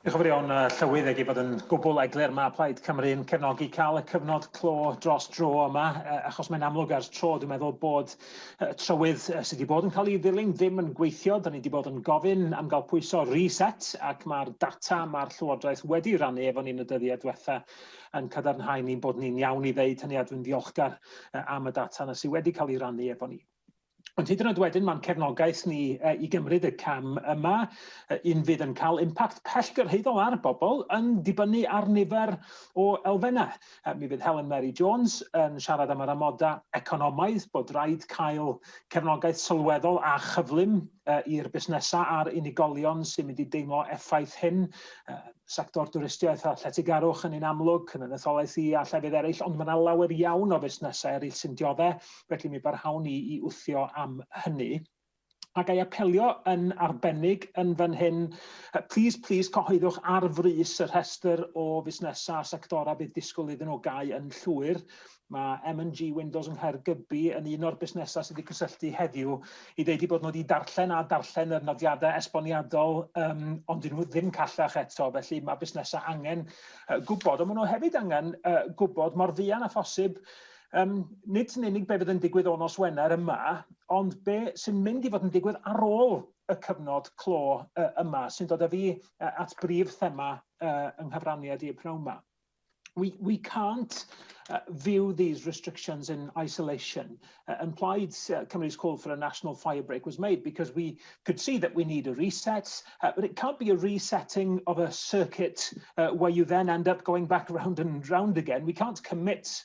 Diolch yn fawr iawn, Llywydd, ag ei fod yn gwbl eglur, mae Plaid Cymru yn cefnogi cael y cyfnod clo dros dro yma, achos mae'n amlwg ers tro, dwi'n meddwl, bod trywydd sydd wedi bod yn cael ei ddilyn ddim yn gweithio. Da ni wedi bod yn gofyn am gael pwyso reset, ac mae'r data mae'r Llywodraeth wedi rannu efo ni yn y dyddiau diwetha yn cadarnhau ni bod ni'n iawn i ddeud hynny, a dwi'n ddiolchgar am y data yna sydd wedi cael ei rannu efo ni. Ond hyd yn oed wedyn, mae'n cefnogaeth ni uh, i gymryd y cam yma, uh, un fydd yn cael impact pellgyrhaeddol ar bobl yn dibynnu ar nifer o elfennau. Uh, mi fydd Helen Mary Jones yn siarad am yr amodau economaidd bod rhaid cael cefnogaeth sylweddol a chyflym uh, i'r busnesau a'r unigolion sy'n mynd i deimlo effaith hyn. Uh, sector dwristiaeth a lletygarwch yn un amlwg, yn etholaeth i a llefydd eraill, ond mae yna lawer iawn o fusnesau eraill sy'n dioddau felly mi barhawn ni i wthio am hynny. A ga i apelio yn arbennig yn fan hyn, plis, plis, cyhoeddwch ar frys y rhestr o fusnesau a sectorau bydd disgwyl iddyn nhw gau yn llwyr. Mae M&G Windows yng Nghaergybi yn un o'r busnesau sydd wedi cysylltu heddiw i ddeud i bod nhw wedi darllen a darllen yr nodiadau esboniadol, um, ond dyn nhw ddim callach eto, felly mae busnesau angen uh, gwybod, ond maen nhw hefyd angen uh, gwybod mor fuan a phosib Yym, nid yn unig be fydd yn digwydd o nos Wener yma, ond be sy'n mynd i fod yn digwydd ar ôl y cyfnod clo uh, yma, sy'n dod â fi uh, at brif thema uh, yng nghyfraniad i'r pnawn yma. We, we can't uh, view these restrictions in isolation. Uh, and Plaid's uh, Cymru's call for a national fire break was made because we could see that we need a reset, uh, but it can't be a resetting of a circuit uh, where you then end up going back round and round again. We can't commit